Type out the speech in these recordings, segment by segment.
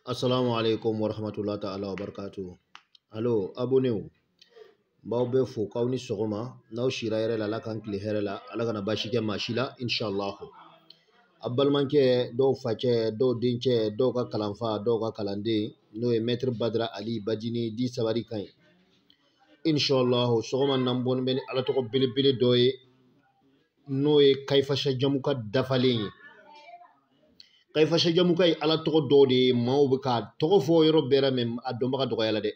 Assalamu alaikum wa rahmatullahi ta'ala wa barakatuh. Alo, abonnéw, n b'aw bɛɛ fo k'aw ni sɔgɔma n'aw sira hɛrɛ la ala k'an tile hɛrɛ la ala kana baasi kɛ maa si la inshallah a balimakɛ dɔw facɛ dɔw dencɛ dɔw ka kalanfa dɔw ka kalanden n'o ye mɛtiri badara ali bajini dit sabari ka ɲi inshallah sɔgɔma na n bɔni bɛ ni ala tɔgɔ belebele dɔ ye n'o ye kayifasajamuka dafalen ye kayifasajamuka ye ala tɔgɔ dɔ de ye maaw bɛ k'a tɔgɔ fɔ yɔrɔ bɛɛ la mɛ a dɔnbaga dɔgɔya la dɛ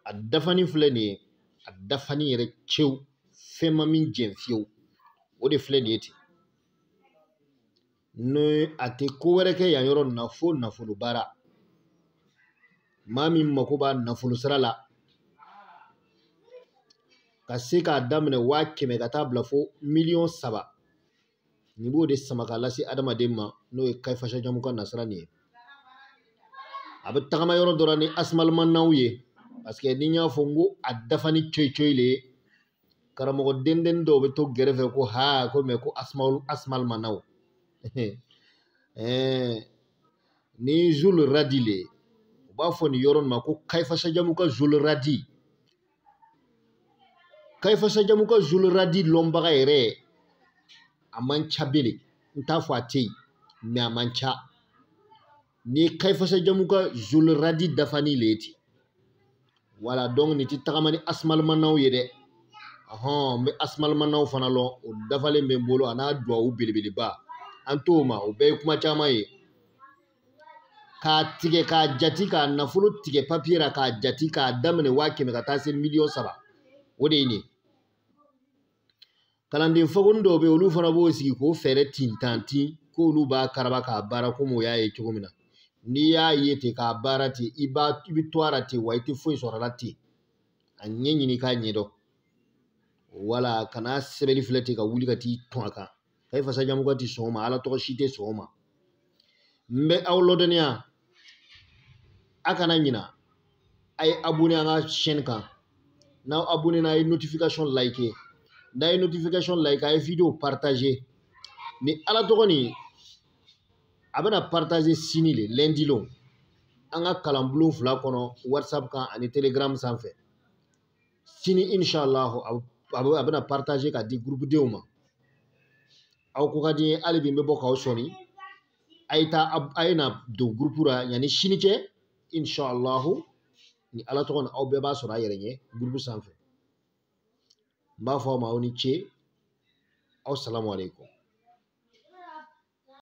a dafani filɛ nin ye a dafani yɛrɛ cew fɛn ma min jɛn fiyewu o de filɛ nin ye ten ni a tɛ ko wɛrɛ kɛ yan yɔrɔ nin na fo nafolo baara maa min mako b'a nafolo sira la ka se k'a daminɛ waa kɛmɛ ka taa bila fo miliyɔn saba nin b'o de sama ka lase adamaden ma n'o ye kayifasajamuka nasira nin ye a bɛ tagama yɔrɔ dɔ la ni asimalimanaw ye paseke ni n y'a fɔ n ko a dafani coyi coyi le ye karamɔgɔ dendenni dɔw bɛ to gɛrɛfɛ ko ha ko mɛ ko asimalimanaw ni zul radi le u b'a fɔ nin yɔrɔ nin ma ko kayifasajamuka zul radi kayifasajamuka zuluradi lɔnbaga yɛrɛ a man ca bele n t'a fɔ a tɛ yen mɛ a man ca nin ye kayifasajamuka zuluradi dafani le ye ten wala dɔnku nin tɛ tagama ni asumalimanaw ye dɛ ɔhɔn n bɛ asumalimanaw fana lɔn o dafalen bɛ n bolo a n'a duwawu belebeleba an t'o ma o bɛɛ ye kuma caman ye k'a tigɛ k'a jati k'a nafolo tigɛ papiye la k'a jati k'a daminɛ waa kɛmɛ ka taa se miliyɔn saba o de ye nin ye kalanden fakonin dɔw bɛ yen olu fana b'o sigi k'o feere tintanti k'olu b'a karaba k'a baara komi o y'a ye cogo min na n'i y'a ye ten k'a baara ten i bɛ to a la ten wa i tɛ foyi sɔrɔ a la ten a ɲɛ ɲini k'a ɲɛdɔn wala kana sɛbɛnni filɛ ten ka wuli ka t'i tɔn a kan kayifasajamuka ti sɔn o ma ala tɔgɔ si tɛ sɔn o ma n bɛ aw lɔdɔnniya a kana ɲina a ye abonné an ka chaîne kan n'aw abonné na a ye notification like n'a ye notification like a ye video partager nin ala tɔgɔ nin a bɛna partager sini le lundi lon an ka kalanbulon fila kɔnɔ whatsapp kan ani telegram sanfɛ sini insha Allah a bɛna partager k'a di groupe denw ma aw ko ka di n ye hali bi n bɛ bɔ k'aw sɔni a ye taa a ye na don groupe la yanni sini cɛ insha Allah nin Ala tɔgɔ nin aw bɛɛ b'a sɔrɔ a yɛrɛ ɲɛ groupe sanfɛ n b'a fɔ aw ma aw ni ce aw salamu aleykum